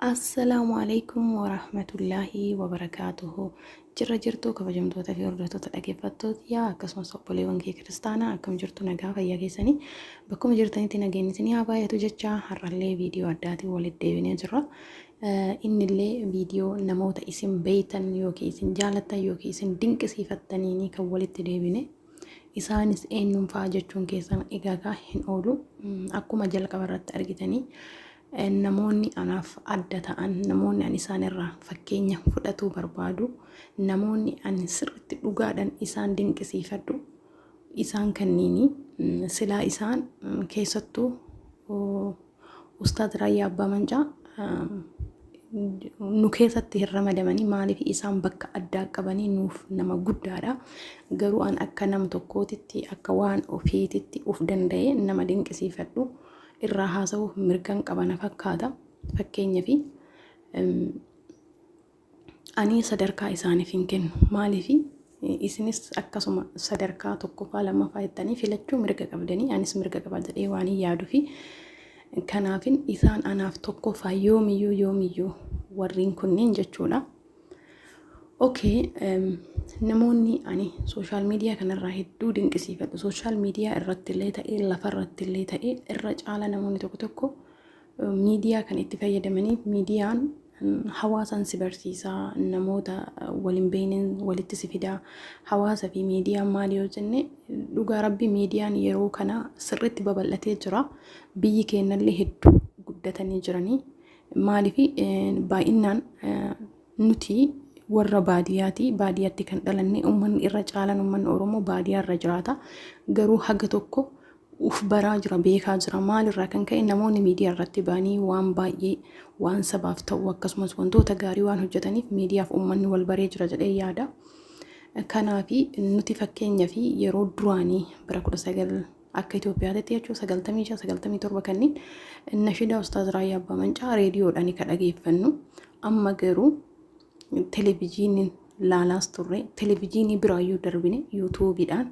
Assalaamu alaikum warahmatullaahi wabarakaatuhu. Jirra jirtuu kabajamtoota fi hordoftoota dhaggeeffattoota yaa akkasumas obboleewwan kee kiristaanaa akkam jirtu nagaa fayyaa keessanii bakkuma jirtanitti nageenyi isinii haa baay'atu jechaa har'allee viidiyoo addaatiin walitti deebinee jirra. Innillee viidiyoo namoota isin beeytan yookiin isin jaalattan yookiin isin dinqisiifattaniinii kan walitti deebine. Isaanis eenyuun fa'a jechuun keessan egaa kaa hin oolu. Akkuma jalqaba irratti argitanii namoonni anaaf adda ta'an, namoonni ani isaan irraa fakkeenya fudhatuu barbaadu, namoonni ani sirriitti dhugaadhaan isaan dinqisiifadhu, isaan kanniini. Silaa isaan keessattuu Ustaaz Raayyaa Abbaa Mancaa nu keessatti hin ramadamanii maaliif isaan bakka addaa qabanii nuuf nama guddaadha. Garuu an akka nama tokkootitti akka waan ofiititti of danda'ee nama dinqisiifadhu irraa haasa'uuf mirgan qabana fakkaata. Fakkeenyaaf Ani sadarkaa isaaniif hin kennu. Maaliif? Isinis akkasuma sadarkaa tokkoffaa lammaffaa jettanii filachuu mirga qabdanii anis mirga qaba jedhee waan hin yaaduufi. Kanaafin isaan anaaf tokkoffaa yoomiyyuu yoomiyyuu warreen kunneen jechuudha. Okee namoonni ani sooshaal miidiyaa kanarraa hedduu dinqisiifadhu. Sooshaal miidiyaa irratti illee ta'ee lafarratti illee ta'ee irra caala namoonni tokko tokko Miidiyaa kan itti fayyadamaniif miidiyaan hawaasaan si barsiisa, namoota wal hin beekneen walitti si fida. Hawaasa fi miidiyaan maali yoo jenne dhugaa rabbi miidiyaan yeroo kana sirriitti babal'atee jira. Biyyi keenyallee hedduu guddatanii jiranii. Maaliif baay'inaan nuti warra baadiyyaati. Baadiyyaatti kan dhalanne uummanni irra caalaan uummanni Oromoo baadiyyaa irra jiraata. Garuu haga tokko uf baraa jira beekaa jira maal irraa kan ka'e namoonni miidiyaa irratti ba'anii waan baay'ee waan sabaaf ta'u akkasumas wantoota gaarii waan hojjetaniif miidiyaaf uummanni wal baree jira jedhee yaada. Kanaaf nuti fakkeenya fi yeroo duraanii bara 19 akka Itoophiyaatti jechuun 95 97 kanneen nashidaa Ustaaz Raayyaa Abbaa Mancaa reediyoodhaan kan dhageeffannu amma garuu televezyiiniin laalaas turre televijiinii biraayyuu darbine yuutuubiidhaan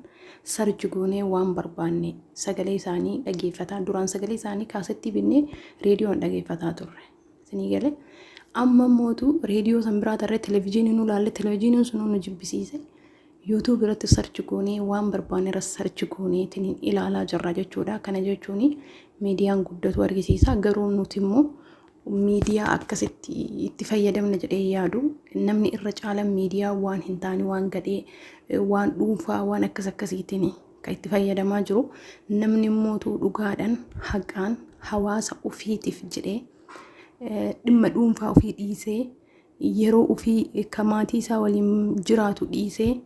sarji goonee waan barbaanne sagalee isaanii dhageeffataa duraan sagalee isaanii kaasettii binnee reediyoon dhageeffataa turre isinii galee amma immootu reediyoo san biraa tarree televijiinii nu laalle televijiiniin sunuu nu jibbisiise yuutuub irratti sarchi goonee waan barbaanne irra sarchi gooneetiin ilaalaa jirra jechuudha kana jechuun miidiyaan guddatu argisiisa garuu nuti immoo Miidiyaa akkasitti itti fayyadamna jedhee yaadu namni irra caalan miidiyaa waan hin taane waan gadhee waan dhuunfaa waan akkas akkasiitiin kan itti fayyadamaa jiru namni immoo dhugaadhaan haqaan hawaasa ofiitiif jedhee dhimma dhuunfaa ofii dhiisee Yeroo ufii ka maatii isaa waliin jiraatu dhiisee,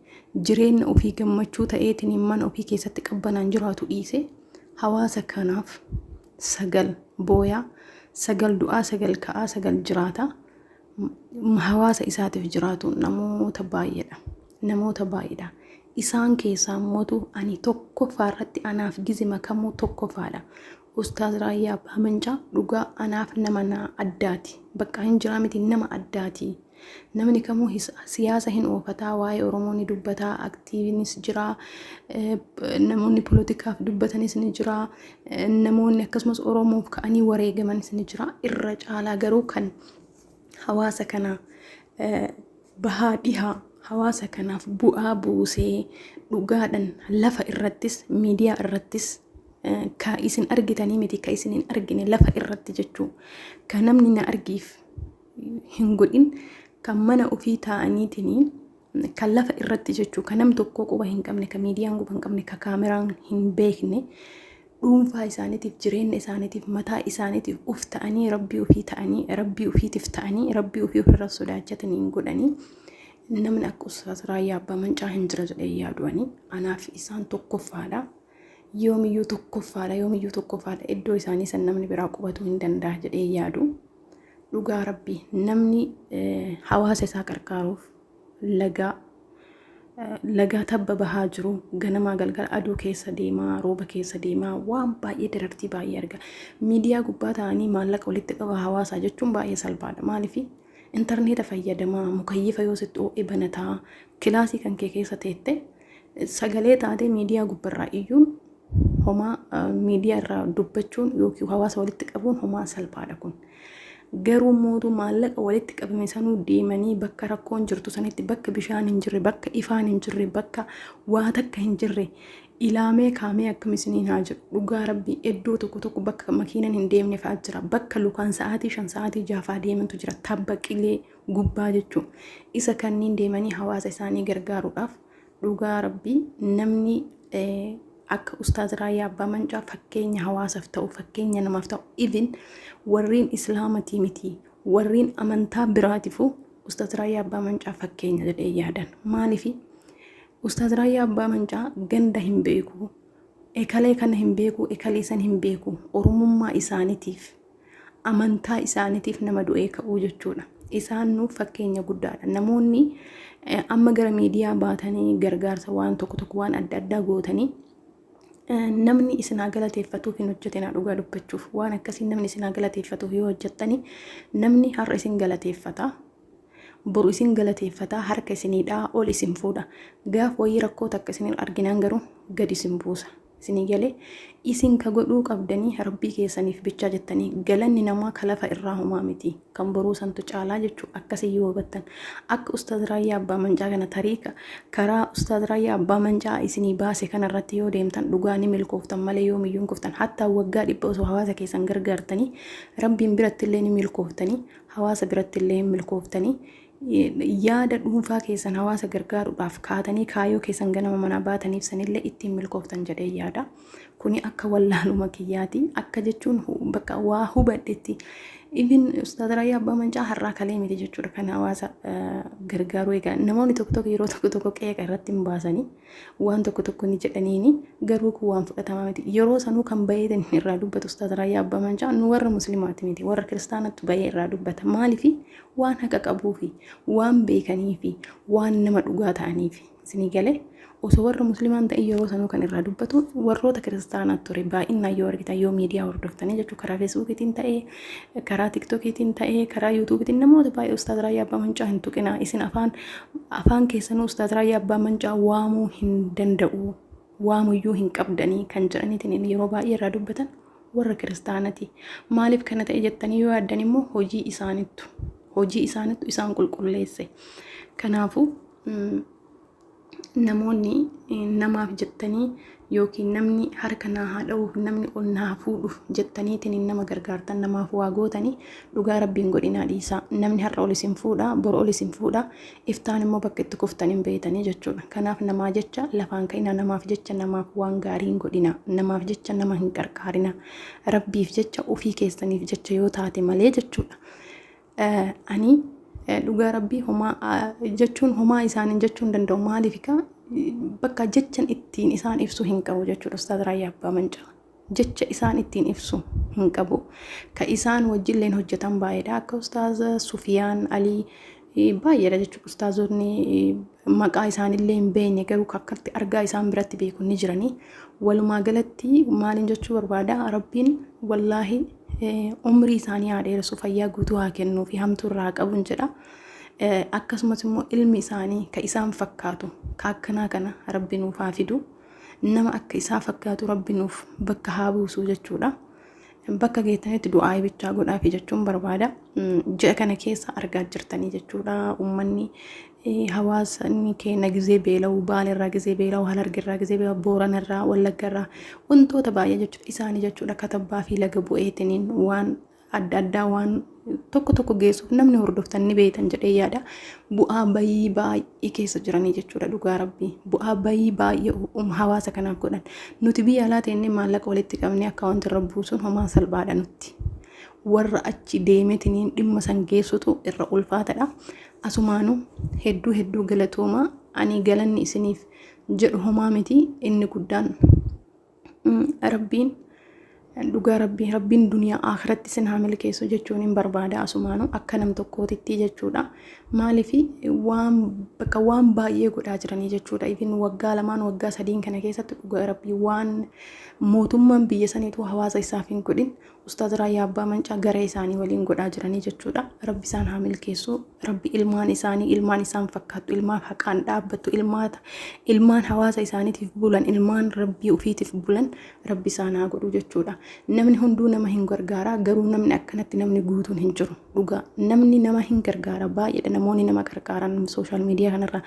jireenna ufii gammachuu ta'eetiniin mana ufii keessatti qabbanaan jiraatu dhiisee, hawaasa kanaaf sagal booyaa, sagal du'aa, sagal ka'aa, sagal jiraata. M- Hawaasa isaatiif jiraatu namoota baay'eedha. Namoota baay'eedha. Isaan keessaa mootu ani tokkoffaa irratti anaaf gizima kamuu tokkoffaadha. Ustaaz Raayyaa Abbaa Mancaa dhugaa anaaf nama naa addaati. Baqqaa hin jiraa miti nama addaati. Namni kamuu his siyaasa hin oofataa waa'ee Oromoo ni dubbataa aktiivinis jiraa eh, namoonni polotikaaf dubbatanis ni jiraa eh, namoonni akkasumas Oromoof ka'anii wareegamanis ni jiraa irra caalaa garuu kan hawaasa kana bahaa dhihaa hawaasa kanaaf bu'aa buusee dhugaadhan lafa irrattis miidiyaa irrattis ka isin argitanii miti ka isin hin argine lafa irratti jechuu ka namni na argiif hin godhin kan mana ofii taa'aniitiin kan lafa irratti jechuu ka nam tokkoo quba hin qabne ka miidiyaan quba hin qabne ka kaameraan hin beekne dhuunfaa isaaniitiif jireenya isaaniitiif mataa isaaniitiif uf ta'anii rabbii ofii ta'anii rabbii ofiitiif ta'anii rabbii ofii ofirra sodaachatanii hin godhanii namni akka ustaas raayyaa abbaa mancaa hin jira jedhee yaadu'anii anaaf isaan tokkoffaadha yoomiyyuu tokkoffaadha yoomiyyuu tokkoffaadha iddoo isaanii san namni biraa qubatuu hin danda'a jedhee yaadu dhugaa rabbii namni hawaasa isaa qarqaaruuf lagaa lagaa tabba bahaa jiru ganamaa galgala aduu keessa deemaa rooba keessa deemaa waan baay'ee darartii baay'ee arga miidiyaa gubbaa ta'anii maallaqa walitti qaba hawaasaa jechuun baay'ee salphaadha maaliif intarneeta fayyadamaa mukayyifa yoo sitti oo'e banataa kilaasii kan kee keessa teette sagalee taatee miidiyaa gubbarraa iyyuun homaa miidiyaa irraa dubbachuun yookiin hawaasa walitti qabuun homaa salphaadha kun. Garuu mootuu maallaqa walitti qabame sanuu deemanii bakka rakkoon jirtu sanitti bakka bishaan hin jirre bakka ifaan hin jirre bakka waa takka hin jirre ilaamee kaamee akkam isiniin haa jiru dhugaa rabbii iddoo tokko tokko bakka makiinan hin deemne fa'aa jira bakka lukaan sa'aatii shan sa'aatii jaafaa deemantu jira tabba qilee gubbaa jechuun isa kanniin deemanii hawaasa isaanii gargaaruudhaaf dhugaa rabbii namni akka ustaaz raayyaa abbaa mancaa fakkeenya hawaasaaf ta'u fakkeenya namaaf ta'u even warriin islaamatii miti warriin amantaa biraatifu ustaaz raayyaa abbaa mancaa fakkeenya jedhee yaadan maaliif ustaaz raayyaa abbaa mancaa ganda hin beeku ekalee kana hin beeku ekalee san hin beeku oromummaa isaaniitiif amantaa isaaniitiif nama du'ee ka'uu jechuudha. Isaan nuuf fakkeenya guddaadha. Namoonni eh, amma gara miidiyaa baatanii gargaarsa waan tokko tokko waan adda addaa gootanii eh, namni isin haa galateeffatuuf hin hojjetinaa dhugaa dubbachuuf waan akkasii namni isin haa galateeffatuuf yoo hojjettanii namni har'a isin galateeffata boru isin galateeffata harka isiniidhaa ol isin fuudha gaaf wayii rakkoo takka isin arginaan garuu gad isin buusa. Isinii galee? Isin ka godhuu qabdanii Rabbii keessaniif bichaa jettanii galanni namaa ka lafa irraa homaa miti. Kan boruu santu caalaa jechuu akkasii yoo hubattan. Akka Ustaaz Raayyaa Abbaa Mancaa kana tariika karaa Ustaaz Raayyaa Abbaa Mancaa isinii baase kana irratti yoo deemtan dhugaa ni milkooftan malee yoomiyyuu hin kuftan. Hattaa waggaa dhibba osoo hawaasa keessan gargaartanii Rabbiin biratti illee ni milkooftanii hawaasa biratti illee hin milkooftanii. Yaada dhuunfaa keessan hawaasa gargaaruudhaaf kaatanii kaayoo keessan ganama manaa baataniif sanillee ittiin milkooftan jedhee yaada. Kuni akka wallaaluma kiyyaati. Akka jechuun hu- bakka waa hubadhetti. Ibin Ustaaz Raayyaa Abbaa Mancaa har'aa kalee miti jechuudha kan hawaasa eh, gargaaruu egaa. Namoonni tokko tokko yeroo tokko tokko qeeqa irratti hin baasanii waan tokko tokko ni jedhaniini garuu kun waan fudhatamaa miti. Yeroo sanuu kan bayeetan irraa dubbatu Ustaaz Raayyaa Abbaa Mancaa nu warra muslimaati miti warra kiristaanattu bayee irraa dubbata. Maaliif Waan haqa qabuufi, waan beekaniifi, waan nama dhugaa ta'aniif. Isinii galee? Osoo warra muslimaa hin ta'in yeroo sanuu kan irraa dubbatu warroota kiristaanaa ture. Baay'inaan yoo argitan yoo miidiyaa hordoftanii jechuun karaa feesbuukiitiin ta'ee, karaa tiktokiitiin ta'ee, karaa yuutuubiitiin namoota baay'ee ustaaz Raayyaa Abbaa Mancaa hin tuqinaa. Isin afaan afaan keessanuu ustaaz Raayyaa Abbaa Mancaa waamuu hin danda'u. waamuyyuu hin qabdanii kan jedhaniitiin yeroo baay'ee irraa dubbatan warra kiristaanati. Maaliif kana ta'e jettanii yoo yaaddan immoo hojii isaanittu hojii isaanittu isaan qulqulleesse. Kanaafuu namoonni namaaf jettanii yookiin namni harka naa haa dha'uuf namni ol naa fuudhuuf jettaniitiin nama gargaartan namaaf waa gootanii dhugaa rabbiin godhinaa dhiisaa namni har'a ol isin fuudha bor ol isin fuudha iftaan immoo bakka itti kuftan hin beeytanii jechuudha. Kanaaf namaa jecha lafaan ka'inaa, namaaf jecha namaaf waan gaarii hin godhinaa, namaaf jecha nama hin qarqaarinaa, Rabbiif jecha ofii keessaniif jecha yoo taate malee jechuudha. Eh, Ani eh, dhugaa Rabbii homaa ah, jechuun homaa isaaniin jechuu hin danda'u maaliif kaa bakka jechan ittiin isaan ibsu hin qabu jechuudha Ustaaz Raayyaa Abbaa Mancaa. jecha isaan ittiin ibsu hin qabu. Ka isaan wajjilleen hojjetan baay'eedha. Akka ustaaza Sufiyaan Alii eh, baay'eedha jechuudha. Ustaazonni eh, maqaa isaanillee hin beekne garuu ka akkatti argaa isaan biratti beeku ni jirani. Walumaa galatti maaliin jechuu barbaada? Rabbiin wallaahi eh, umrii isaanii haa dheeressu, fayyaa guutuu haa kennuu fi hamtuu irraa haa qabu jedha. Eh, Akkasumas immoo ilmi isaanii ka isaan fakkaatu ka akkanaa kana Rabbi nuuf haa fidu. nama akka isaa fakkaatu rabbi nuuf bakka haa buusu jechuudha. Bakka geettanitti du'aa bichaa godhaafi jechuun barbaada. Ji'a kana keessa argaa jirtanii jechuudha uummanni hawaasni keenya gizee beela'u baalerraa gizee beela'u halargerraa gizee beela'u booranarraa wallaggarraa wantoota baay'ee jechuudha isaanii jechuudha katabbaa fi laga bu'eetiniin waan adda addaa waan tokko tokko geessuuf namni hordoftan ni beektan jedhee yaada. Bu'aa bayii baay'ee keessa jiranii jechuudha dhugaa rabbii. Bu'aa bayii baay'ee um- hawaasa kanaaf godhan. Nuti biyya alaa teennee maallaqa walitti qabnee akkaawwanti irra buusuun homaa salphaadha nutti. Warra achi deemetiniin dhimma san geessutu irra ulfaatadha. Asumaanuu hedduu hedduu galatoomaa ani galanni isiniif jedhu homaa miti inni guddaan Rabbiin dhugaa rabbii rabbiin duniyaa akiratti sin haa milkeessu jechuun hin barbaada asumaanu akka nam tokkootitti jechuudha maaliif waan bakka waan baay'ee godhaa jiranii jechuudha ifin waggaa lamaan waggaa sadiin kana keessatti dhugaa rabbii waan mootummaan biyya saniitu hawaasa isaaf hin godhin Ustaaz Raayyaa Abbaa Mancaa garee isaanii waliin godhaa jiranii jechuudha. Rabbi isaan haa milkeessuu. Rabbi ilmaan isaanii, ilmaan isaan fakkaattu, ilmaan haqaan dhaabbattu, ilmaata, ilmaan hawaasa isaaniitiif bulan, ilmaan Rabbii ofiitiif bulan Rabbi isaan haa godhu jechuudha. Namni hunduu nama hin gargaaraa garuu namni akkanatti namni guutuun hin jiru. dhugaa namni nama hin gargaara baay'eedha namoonni nama qarqaaran sooshaal miidiyaa kanarraa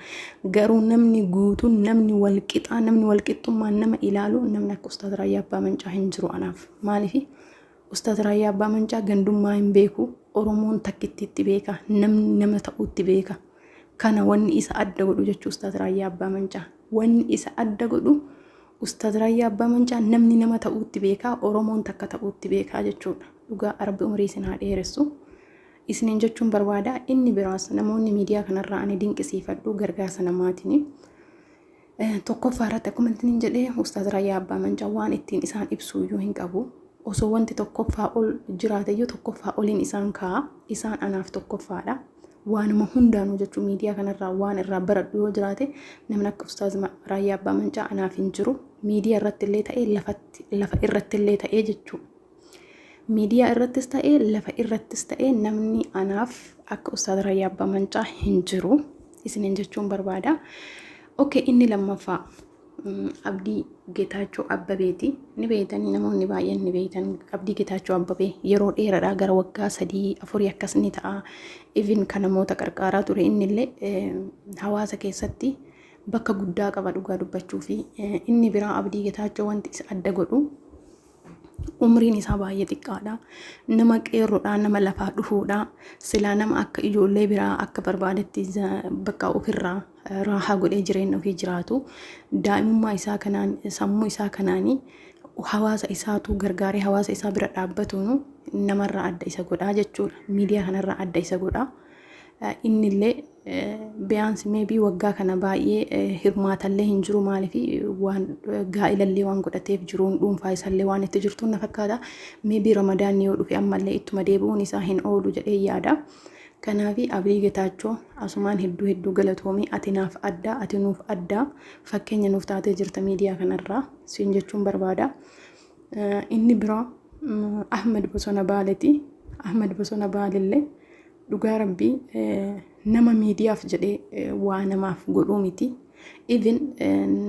garuu namni guutuun namni walqixaa namni walqixxummaan nama ilaalu namni akka ustaaz raayyaa abbaa mancaa hin jiru anaaf maaliif ustaaz raayyaa abbaa mancaa gandummaa hin beeku oromoon takkittiitti beeka namni nama ta'uutti beeka kana wanni isa adda godhu jechuu ustaaz raayyaa abbaa mancaa wanni isa adda godhu Ustaz Raayyaa Abbaa Mancaa namni nama ta'uutti beekaa Oromoon takka ta'uutti beekaa jechuudha dhugaa Rabbi umrii isin haa dheeressu isiniin jechuun barbaada inni biraas namoonni miidiyaa kanarraa ani dinqisiifadhu gargaarsa namaatini tokkoffaa irratti akkuma ittiin jedhee Ustaz Raayyaa Abbaa Mancaa waan ittiin isaan ibsu iyyuu hin qabu osoo wanti tokkoffaa ol jiraateyyuu tokkoffaa oliin isaan kaa'a isaan anaaf tokkoffaadha waanuma hundaanuu jechuun miidiyaa kanarraa waan irraa baradhu yoo jiraate namni akka ustaaz Raayyaa Abbaa Mancaa anaaf hin jiru miidiyaa irratti illee ta'ee lafatti lafa irratti illee ta'ee jechuu miidiyaa irrattis ta'ee lafa irrattis ta'ee namni anaaf akka ustaaz Raayyaa Abbaa Mancaa hin jiru isiniin jechuun barbaada. Oke inni lammaffaa Abdii Getaachoo Abbabeeti. Ni beeytanii namoonni baay'een ni beeytan. Abdii Getaachoo Abbabee yeroo dheeraadhaa gara waggaa sadii afurii akkas ni ta'a. Even kan namoota qarqaaraa ture innillee eh, hawaasa keessatti bakka guddaa qaba dhugaa dubbachuu fi eh, inni biraa Abdii Getaachoo wanti isa adda godhu umriin isaa baay'ee xiqqaadha. Nama qeerroodha, nama lafaa dhufuudha. Silaa nama akka ijoollee biraa akka barbaadetti bakka ofirraa raahaa godhee jireenya ofii jiraatu. Daa'imummaa isaa kanaan, sammuu isaa kanaan hawaasa isaatu gargaaree hawaasa isaa bira dhaabbatuun namarraa adda isa godhaa jechuudha. Miidiyaa kanarraa adda isa godhaa. Innillee Biyaansi meebii waggaa kana baay'ee hirmaatallee hin jiru maaliif waan gaa'ilallee waan godhateef jiruun dhuunfaa isaallee waan itti jirtuun na fakkaata. Meebii ramadaanni yoo dhufe ammallee ittuma deebi'uun isaa hin oolu jedhee yaada. Kanaaf Abiy Getaachoo asumaan hedduu hedduu galatoomii ati naaf addaa ati nuuf addaa fakkeenya nuuf taatee jirta miidiyaa kanarraa siin jechuun barbaada. Inni biraa Ahmed Bosona Baaleeti. Ahmed Bosona Baalellee Dhugaa rabbii nama miidiyaaf jedhee waa namaaf godhuu miti. Even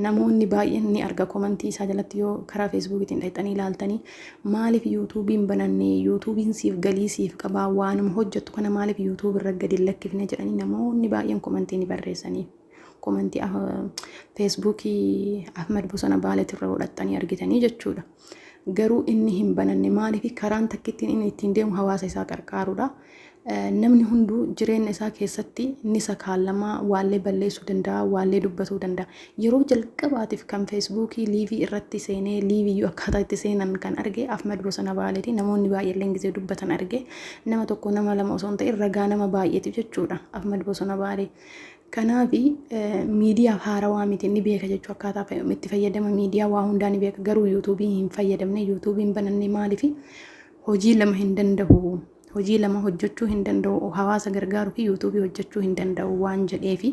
namoonni baay'een ni arga komantii isaa jalatti yoo karaa feesbuukiitiin dhaqxanii ilaaltanii maaliif yuutuubiin banannee yuutuubiin siif galii siif qabaa waanuma hojjettu kana maaliif yuutuubii irra gadi lakkifne jedhanii namoonni baay'een komantii ni barreessanii. Komantii feesbuukii Ahmad Bosona Baaleetirra hodhattanii argitanii jechuudha. Garuu inni hin bananne maaliif karaan takkittiin inni ittiin deemu hawaasa isaa qarqaaruudha. Namni hunduu jireenya isaa keessatti ni sakaallamaa waallee balleessuu danda'a, waallee dubbatuu danda'a. Yeroo jalqabaatiif kan feesbuukii liivii irratti seenee liiviyyuu akkaataa itti seenan kan arge Afmad Bosona Baaleeti. Namoonni baay'eelleen gisee dubbatan arge. Nama tokko nama lama osoo hin ta'in ragaa nama baay'eetiif jechuudha Afmad Bosona Baalee. Kanaaf miidiyaaf haarawaa miti ni beeka jechuu akkaataa fa- itti fayyadama miidiyaa waa hundaa ni beeka garuu yuutuubii hin fayyadamne yuutuubii hin bananne maaliif hojii lama hin danda'u hojii lama hojjechuu hin danda'u hawaasa gargaaru fi yuutuubii hojjechuu hin danda'u waan jedheefi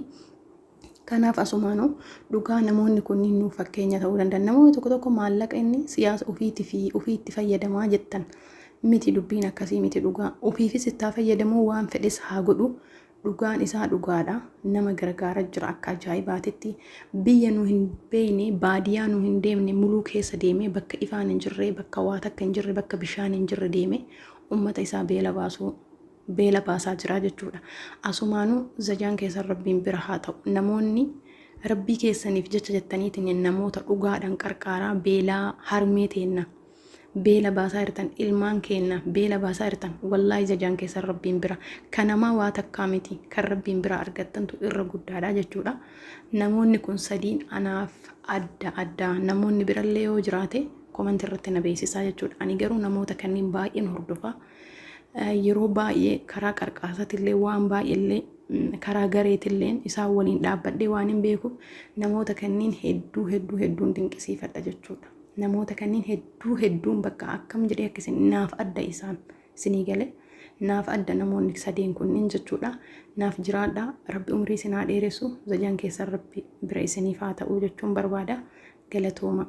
kanaaf asumaanuu dhugaa namoonni kunniin nuuf fakkeenya ta'uu danda'an namoonni tokko tokko maallaqa inni siyaasa ofiitii fi ofiitti fayyadamaa jettan miti dubbiin akkasii miti dhugaa ofiifis ittaa fayyadamuu waan fedhes haa godhu Dhugaan isaa dhugaadha. Nama gargaara jira akka ajaa'ibaatitti. Biyya nu hin beeyne, baadiyaa nu hin deemne muluu keessa deemee bakka ifaan hin jirre, bakka waa takka hin jirre, bakka bishaan hin jirre deemee ummata isaa beela baasuu beela baasaa jira jechuudha. Asumaanuu zajaan keessan Rabbiin bira haa ta'u. Namoonni Rabbii keessaniif jecha jettaniitiin namoota dhugaadhaan qarqaaraa beelaa harmee teenna. beela baasaa jirtan ilmaan keenna beela baasaa jirtan wallaahi jajaan keessan rabbiin bira kanamaa waa takkaa miti kan rabbiin bira argattantu irra guddaadha jechuudha namoonni kun sadiin anaaf adda addaa namoonni birallee yoo jiraate komanti irratti na beeksisaa jechuudha ani garuu namoota kanneen baay'een hordofaa yeroo baay'ee karaa qarqaasatillee waan baay'eellee karaa gareetilleen isaan waliin dhaabbadhee waan hin beekuuf namoota kanneen hedduu hedduu hedduun dinqisiifadha jechuudha. Namoota kanneen hedduu hedduun bakka akkam jedhee akka isin naaf adda isaan isinii gale naaf adda namoonni sadeen kunniin jechuudha naaf jiraadha rabbi umrii isin haa dheeressu zajaan keessan rabbi bira isiniif haa ta'uu jechuun barbaada galatooma.